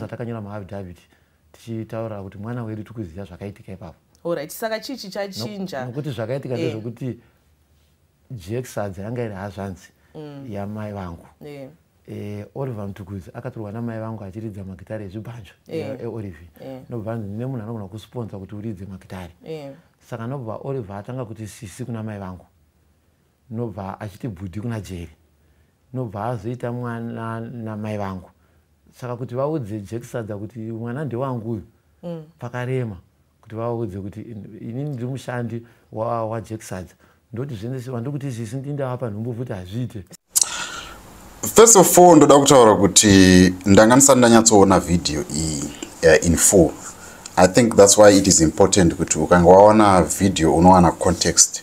zvatakanyora muaffidavit tichitaura kuti mwana wedu tiri kuziva zvakaitika ipapo orit saka chii chichachinja nokuti zvakaitika eh. ndezvekuti eh. jeksadzi yanga iri hazvanzi mm. yamai vangu eh. Eh, oliver mtukuzi akatorwa namai vangu achiridza magitare ezvibhanjo yeah. eolivi eh, yeah. nobva anzi ndine munhu anogona kusponsa kuti uridze magitare yeah. saka nobva oliver atanga kuti sisi kuna mai vangu nobva achiti bhudhi kuna jeri nobva azoita mwana namai vangu saka kuti vaudze jekisadza kuti mwana ndewangu uyu mm. pakarema kuti vaudze kuti ini ndiri mushandi wajekisadza wa ndoti zvese vandiri kuti izvisi ndindavapa nhumbu futi hazviite first of all ndoda kutaura kuti ndanga ndisati ndanyatsoona vhidhiyo iyi uh, in full i think thats why it is important kuti ukange waona vhidhiyo unowana context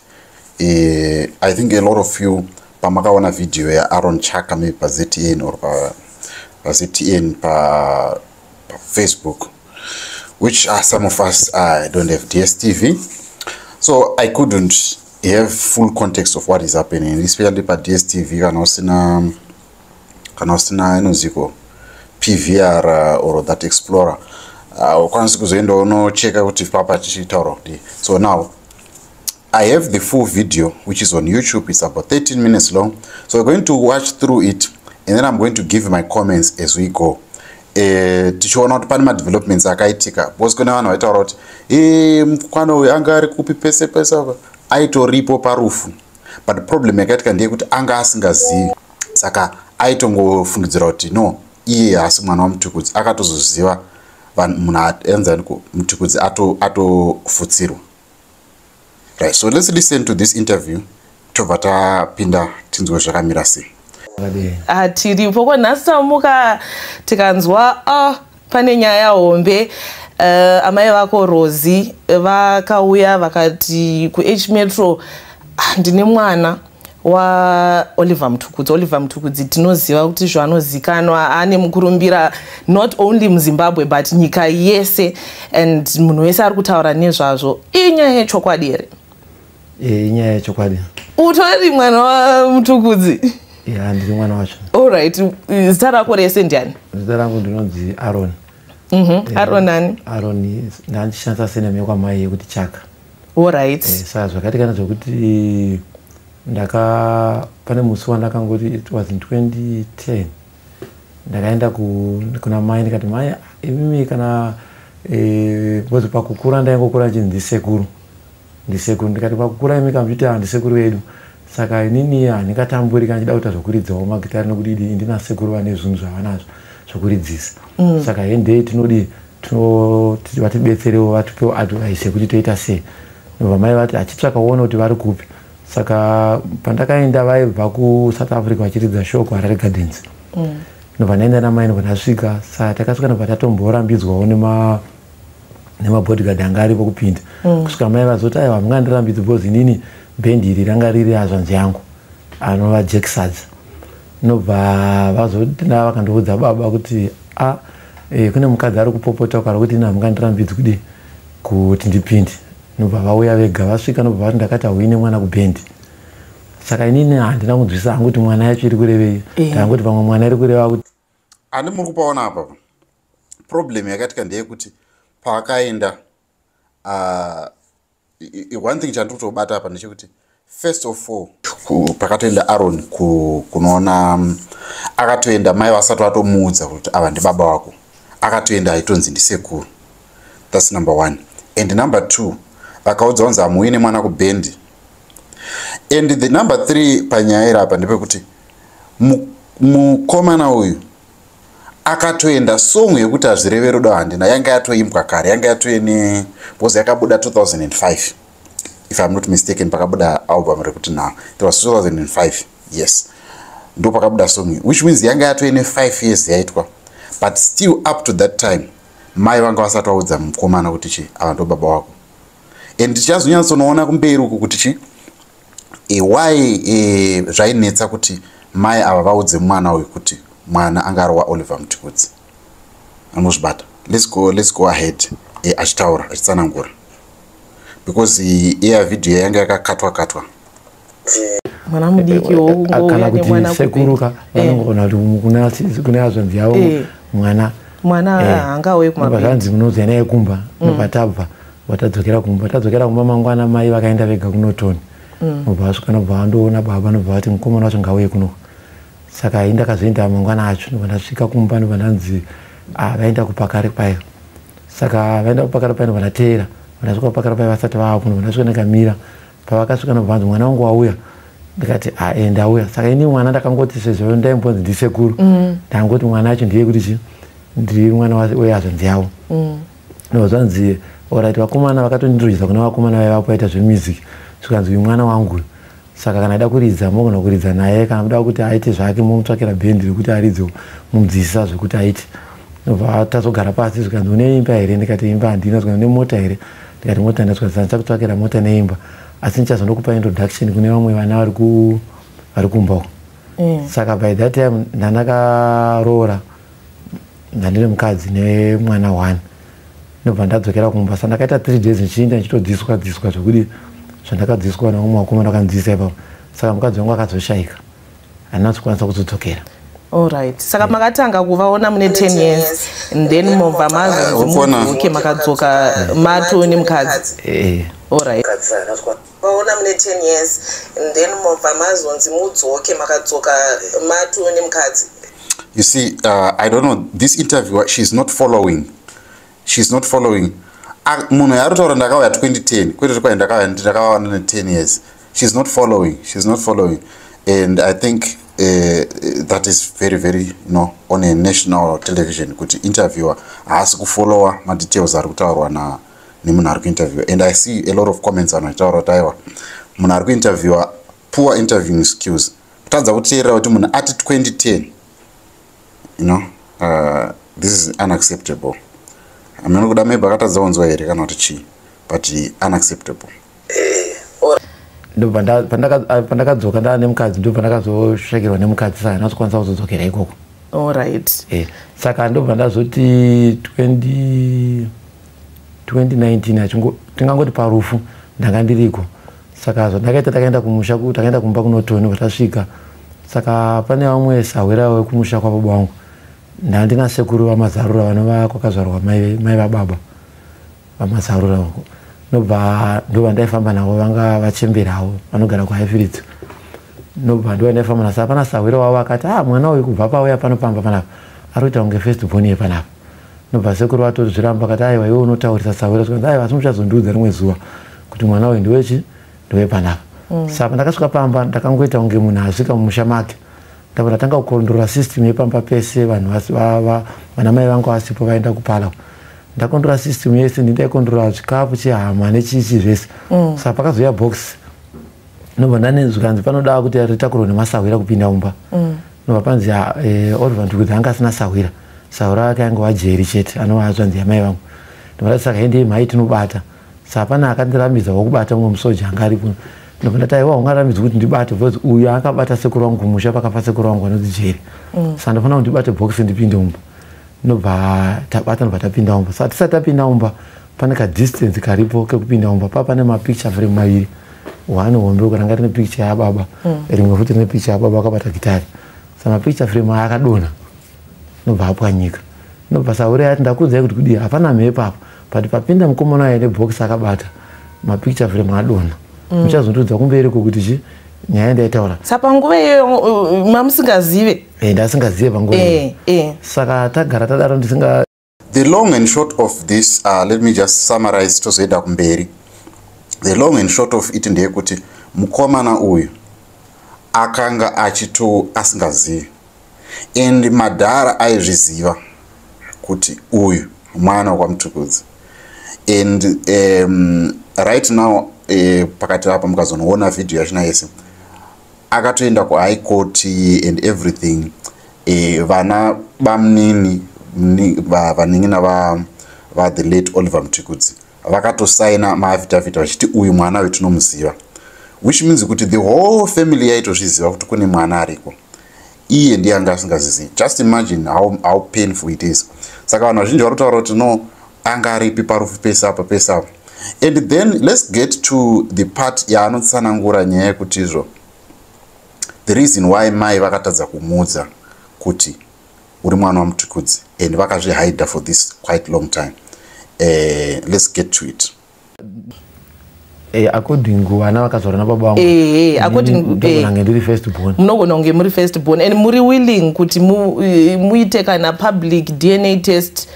Eh, I think a lot of you pamakaona video ya Aaron Chaka maybe pa ZTN or pa, pa ZTN pa, pa Facebook which are some of us I don't have DSTV so I couldn't have full context of what is happening especially pa DSTV kana usina kana usina inoziko PVR or that explorer uh, ukwanisi kuzoenda unocheka kuti papa tichitaura kuti so now I have the full video which is on YouTube. It's about 13 minutes long. So we're going to watch through it and then I'm going to give my comments as we go. Eh, tichiona kuti pane madevelopments akaitika because kune vanhu vaitaura kuti eh, mukwana uyu anga ari kupi pese pese apa aitoripo parufu but problem yakaitika ndeyekuti anga asingazivi saka aitongofungidzira kuti no iye haasi mwana wamutukudzi akatozoziva munhu aenzaniko mutukudzi atofutsirwa ato right so let's listen to this interview tobva tapinda tinzwe zvakamira sei hatiripo ah, ko nhasi tamuka tikanzwa oh, pane nyaya hombe uh, amai vako rozi vakauya vakati kuh metro ah, ndine mwana waoliver mutukudzi oliver mutukudzi tinoziva kuti zvanozikanwa ane mukurumbira not only muzimbabwe but nyika yese and munhu wese ari kutaura nezvazvo inyaya yechokwadi here eh, inyaya yechokwadi utori mwana wamutukudzi ya ndiri mwana wacho allright zita rako rese ndiani zita rangu ndinonzi aron mhm, eh, aron ani aron ndaandishandisa sename yekwamai yekuti chaka Alright. Eh, saka zvakati kana zvekuti ndaka pane musi wandakangoti it was in 2010 ndakaenda kuna mai ndikati mai imimi kana eh, because pakukura ndaingokura chinzi ndisekuru ndisekuru ndikati pakukura imi kamviti ah, ndisekuru vedu saka inini handingatamburi kana chida kuita zvokuridzawo magitari nokuti ndina sekuru vane zvinhu zvavanazvo zvokuridzisa mm. saka hendei tinodii tinoti vatibetserewo vatipewo advice yekuti toita sei ndobva mai vati achitsvaka uone kuti vari kupi saka pandakaenda vaibva kusouth africa vachiridza show kuharare gardens mm. ndobva ndaenda namai ndobva ndasvika sa takasvika ndobva tatomborambidzwawo nema nemabodyguard anga aripo kupinda mm. kusvika mai vazoti aiwa mungandirambidzi because inini bhendi iri ranga riri azvanzi yangu anova jacksads nobva vazodina vakandiudza baba kuti a ah, e, kune mukadzi ari kupopota ukara kuti ini hamungandirambidzi kudii kuti ndipinde nobva vauya vega vasvika nobva vati ndakati hauine mwana kubhendi saka inini handina kunzwisa hangu kuti mwana yacho iri kurevei eh. ndangoti pamwe mwana iri kureva kuti ani muri kupaona apapa problem yakaitika ndeyekuti paakaenda uh, one thing chandiri kutobata apa ndechekuti first of all pakatoenda aron kunoona mm, akatoenda mai vasati vatomuudza kuti ava ndibaba wako akatoenda aitonzi ndisekuru thats number one and number two vakaudza kunzi hamuuine mwana kubhendi and the number three panyaya iri apa ndepekuti mukomana uyu akatoenda song yekuti hazvireve rudo handina yanga yatoimbwa kare yanga yatoye ne bcause yakabuda 2005 if im not mistaken pakabuda album rekuti now it was 2005 yes ndo pakabuda song which means yanga yatoye ne 5 years yaitwa but still up to that time mai vanga vasati vaudza mukomana kuti chi ava ndo baba wako and tichazonyatsonoona kumberi uku kuti chi e, why e, zvainetsa kuti mai ava vaudze mwana uyu kuti mwana anga ari waoliver mutikudzi anozvibata let's go, let's go ahead e, achitaura achitsanangura because iya vhidhiyo yanga yakakatwa katwa mwana mudiki wokungouya nemwana sekuruka vanongona eh. kuti kune azvanzi yavo eh. mwana mwana eh. anga auye kumabazvanzi munoudzai naye kumba mm. nopatabva vatadzokera kumba vatadzokera kumba mangwana mai vakaenda vega kunotoni mm. nobva vasvika nobva vandoona baba nobva vati mukomana wacho ngauye kunoku saka ini ndakazoenda mangwana acho nobva ndasvika kumba nobva ndanzi ah, vaenda kupakare payo saka vaenda kupakare payo nobva ndateera ndasvika kupakare payo vasati vaapo nobva ndasvika ndakamira pavakasvika nobva vanzi mwana wangu wauya ndikati ae eh, ndauya saka ini mwana ndakangoti sezvo ndaimbonzi ndisekuru mm. ndangoti mwana acho ndiye kuti chii ndiri mwana weyazvanzi yavo mm. no zvanzi orit vakomana vakatondirodzisa kuna vakomana vaiva kwaita zvemusic zvikanzi uyu mwana wangu saka kana aida kuridza mogona kuridza naye kana kuda kuti aite zvake momutsvakira bhendi rekuti aridze mumudzidzisa zvekuti aite nobva tazogara pasi zvikanzi une imba here ndikati imba handina zvikanzi une mota here ndikati mota ndina zvikanzi sandichakutsvakira mota neimba asi ndichazonokupa introduction kune vamwe vana vari kumba uko mm. saka by that time ndandakaroora ndandine mukadzi nemwana one ndobva ndadzokera kumba sa ndakaita three days ndichiinda ndichitodziswa dziswa zvekuti zvandakadziswa naumwe wakomana akanzisa ipapo saka mukadzi wangu akazoshayika handina kuzokwanisa kuzodzokera Alright. Saka yeah. makatanga kuvaona mune 10 years and then mobva mazozimukona okay makadzoka mato nemukadzi. Eh. eh. Alright. maona mune 10 years and then mobva mazonzi mudzoke makadzoka matu nemukadzi you see uh, i don't know this interview she is not following she is not following ah, munhu yaari kutaura ndakauya 2010 kwete kwai ndakauya ndakawana ne 10 years she is not following she is not following and i think uh, that is very very you know on a national television kuti interviewer haasi kufollowa madetails ari kutaurwa na nemunhu ari kuinterviewa and i see a lot of comments vanhu vachitaura kuti aiwa munhu ari kuinterviewa poor interviewing skills kutadza kuteerera kuti munhu ati 2010 you know uh, this is unacceptable amene kuda maybe akatadza kunzwa here kana kuti chii but unacceptable ndo pandakadzoka ndaa nemukadzi ndo pandakazosvekerwa nemukadzi saka ndinazokwanisa kuzodzokera ikoko olright eh, saka ndobva ndazoti 2019 achingo tingangoti parufu ndanga ndiriko saka zvandakaita takaenda kumusha takaenda kumba kunotoni vatasvika saka pane vamwe sahwira wekumusha kwababa wangu ndandina sekuru vamazarura vanova kwakazvarwa mai vababa vamasarura uko nobva ndovandaifamba navo vanga vachemberawo vanogara kuhaifiridzo nobva ndovandaifamba nasa apana sahwira wavo akati ah mwana uyu kubva pauya pano pamba panapa ari kuita kunge first born yepanapa nobva sekuru vatozviramba akati aiwa iwe unotaurisa sahwira zvikanzi aiwa asi muchazondiudza rimwe zuva kuti mwana uyu ndiwechi ndowepanapa mm. saka ndakasvika pamba ndakangoita kunge munhu asvika mumusha make ndabva ndatanga kukondrora system yepamba pese vanhu vana mai vangu vasipo vaenda kupala ndakondrora system yese ndindaikondrora chikafu chehama nechichi zvese mm. saka pakazoya box ndobva ndanenzwi kanzi panoda kuti ritakurwa nemasahwira kupinda mumba mm. ndobva panzi eh, oliver ndikuti anga asina sahwira sahwira ake ange wajeri chete anova azvanzi yamai vangu ndobva ndati saka hendei mhai tinobata sa hapana akandirambidza wakubata mumwe musoja anga ari kuno ndobva ndati aiwa ungarambidzi kuti ndibate bcause uyu akabata sekuru wangu kumusha pakafa sekuru wangu anonzi jeri mm. sa ndofanira kuti ndibate bhokisi ndipinde umba ndobva tabata ndobva tapinda umba sa tisati tapinda umba pane kadistance karipo kekupinda umba pa pane mapicture frame maviri one hombe uko ranga rine picture yababa mm. rimwe futi rine picture yababa akabata gitari sa mapicture frame aya akadonha ndobva apwanyika ndobva saure ati ndakuudzai kuti kudii hapana mhepo apa but papinda mukomana aine box akabata mapicture frame adona mm. muchazondiudza kumberi ko kuti chi nyaya ndaitaura sa panguva iyoyo uh, uh, mamusingazive eh, ndasingazive panguva eh, eh. saka tagara tadaro ndisinga the long and short of this uh, let me just summarize tozoenda kumberi the long and short of it ndeyekuti mukomana uyu akanga achito asingazivi and madhara aizviziva kuti uyu mwana wekwamutukudzi and um, right now uh, pakati apa mukazonoona vhidhiyo yachina yese akatoenda kuhigh court and everything uh, vana bamunini vanin'ina va, va, va the late oliver mutukudzi vakatosaina maafidavhiti vachiti uyu mwana uyu tinomuziva which means kuti the whole family yaitozviziva kuti kune mwana ariko iye ndiye anga asingazizivi just imagine how, how painful it is saka vanhu vazhinji vari kutaura kuti no anga aripi parufu pese apa pese apa and then let's get to the part yaanotsanangura nyaya yekuti izvo the reason why mai vakatadza kumuudza kuti uri mwana wamutukudzi and vakazvihider for this quite long time uh, let's get to it eh, according vana vakazvarwa nababa vangu eh, eh, akodingange ndiri first born munogona kunge muri first born and muri willing kuti muite kana public dna test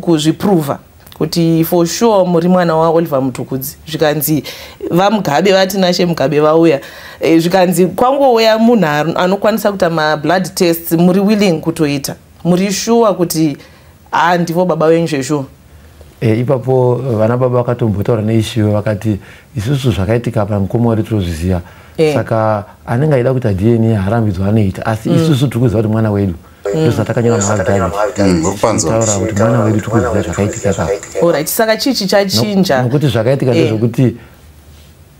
kuzviprova kuti for sure muri mwana waoliver mutukudzi zvikanzi vamugabe vati nashe mugabe vauya e, zvikanzi kwangouya munhu anokwanisa kuita mablood tests muri willing kutoita muri shuwa kuti haa ndivo baba venyu zveshuwa e, eh, ipapo vana baba vakatombotaura neishiwe vakati isusu zvakaitika apa mukoma wari tinozviziva e. saka anenge aida kuita dna harambidzwa anoita asi mm. isusu tiri kuziva kuti mwana wedu mm. ndozvatakanyora maagdivekutaura mm, kuti mwana wedu tikuziva zvakaitika kaorit saka chii chichachinja nokuti zvakaitika eh. ndezvekuti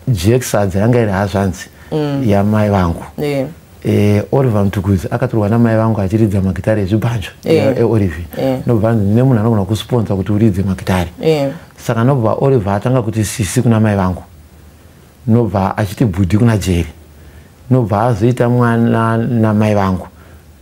jex hadzi yanga iri hazvanzi mm. yamai vangu eh. Eh, oliver mtukuzi akatorwa namai vangu achiridza magitare ezvibhanjo eolivi ndobva anzi ndine munhu anogona kusponsa kuti uridze magitare saka ndobva oliver atanga kuti sisi kuna mai vangu nobva achiti bhudhi kuna jeri nobva azoita mwana namai vangu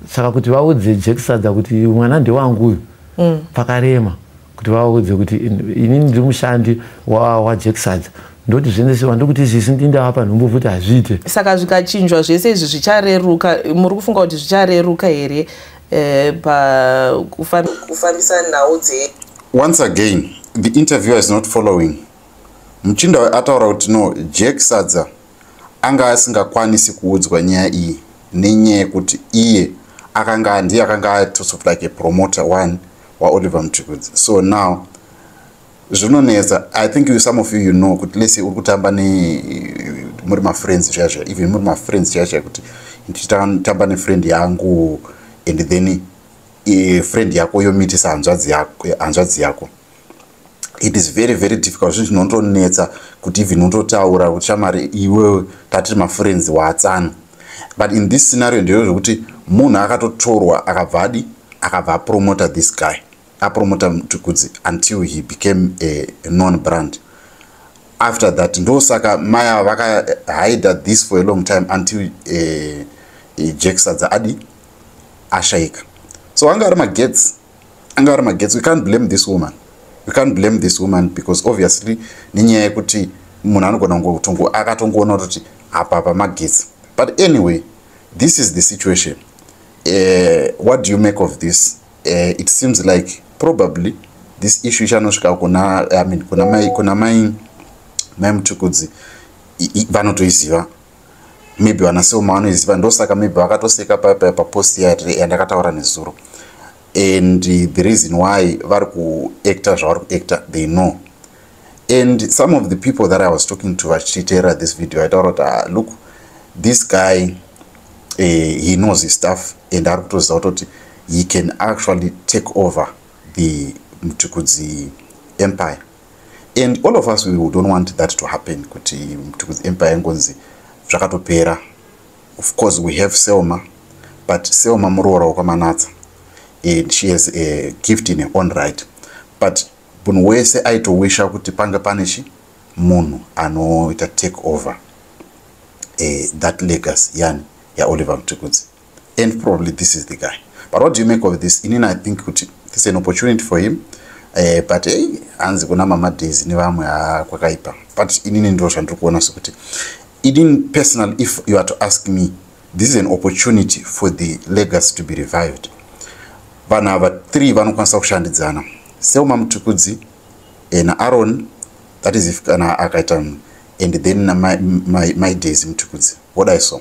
saka kuti vaudze jekisadza kuti mwana ndewangu uyu mm. pakarema kuti vaudze kuti inini ndiri mushandi wajekisadza wa ndoti zviendesiwa ndokuti izvisi ndindava panhumbu futi hazviite saka zvikachinjwa zvese izvi zvichareruka muri kufunga kuti zvichareruka here eh, pakufambisa nhau dze once again the interviewer is not following Muchinda uyu ataura kuti no, Jack Sadza anga asingakwanisi kuudzwa nyaya iyi nenyaya yekuti iye akanga ndiye akanga atosov like a promoter one waoliver mutukudzi so now zvinonetsa i think you, some of you you know kuti lese uri kutamba ne muri mafriends zviya zviya even muri mafriends zviya zviya kuti ndichitamba nefriend yangu and then e, friend yako yomitisa hanzvadzi yako, hanzvadzi yako. it is very very difficult zvinhu zvinotonetsa kuti even utotaura kuti shamari iwewe tatiri mafriends waatsana but in this scenario ndeyo zvekuti munhu akatotorwa akabva adi akabva apromota this guy apromota mtukudzi until he became a non brand after that ndosaka maya vakahida this for a long time until uh, eh, uh, eh, jacksadza adi ashaika so anga ari magets anga ari magetsi we can't blame this woman we can't blame this woman because obviously nenyaya yekuti munhu anogona kungotongo akatongoona kuti apa pa magetsi but anyway this is the situation uh, what do you make of this uh, it seems like probably this issue ichanosvika kuna i mean kuna mai kuna mai mai mutukudzi vanotoiziva maybe vana seoma vanoiziva ndosaka maybe vakatoseka paya papost yandakataura nezuro and the reason why vari kuacta zvavari kuacta they know and some of the people that i was talking to vachiteera this video aitaura kuti ah, look this guy uh, he knows his stuff and ari kutoziva kutoti he can actually take over the mtukudzi empire and all of us we don't want that to happen kuti mtukudzi empire yangonzi zvakatopera of course we have selma but selma muroora wekwamanatsa and she has a gift in her own right but munhu wese aitowisha kuti pange pane chi munhu anoita take over uh, that legacy yani yaoliver mtukudzi and probably this is the guy but what do you make of this inini i think kuti this is an opportunity for him eh, but hey, hanzi kuna mama days nevamwe ah, kwakaipa but inini ndiro zvandiri kuona sekuti inini personal if you are to ask me this is an opportunity for the legacy to be revived vanhu ava three vanokwanisa kushandidzana seuma mutukudzi eh, naaron that is if kana akaita and then my, my, my days mutukudzi what i saw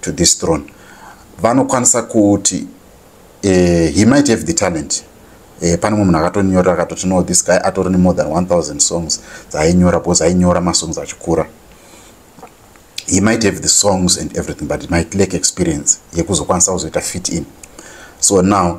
to this throne vanokwanisa kuti eh, he might have the talent eh, pane mwe munhu akatonyorera akatoti no this guy atori nemore than 1000 songs dzainyora because ainyora masongs achikura he might have the songs and everything but he might lack experience yekuzokwanisa kuzoita fit in so now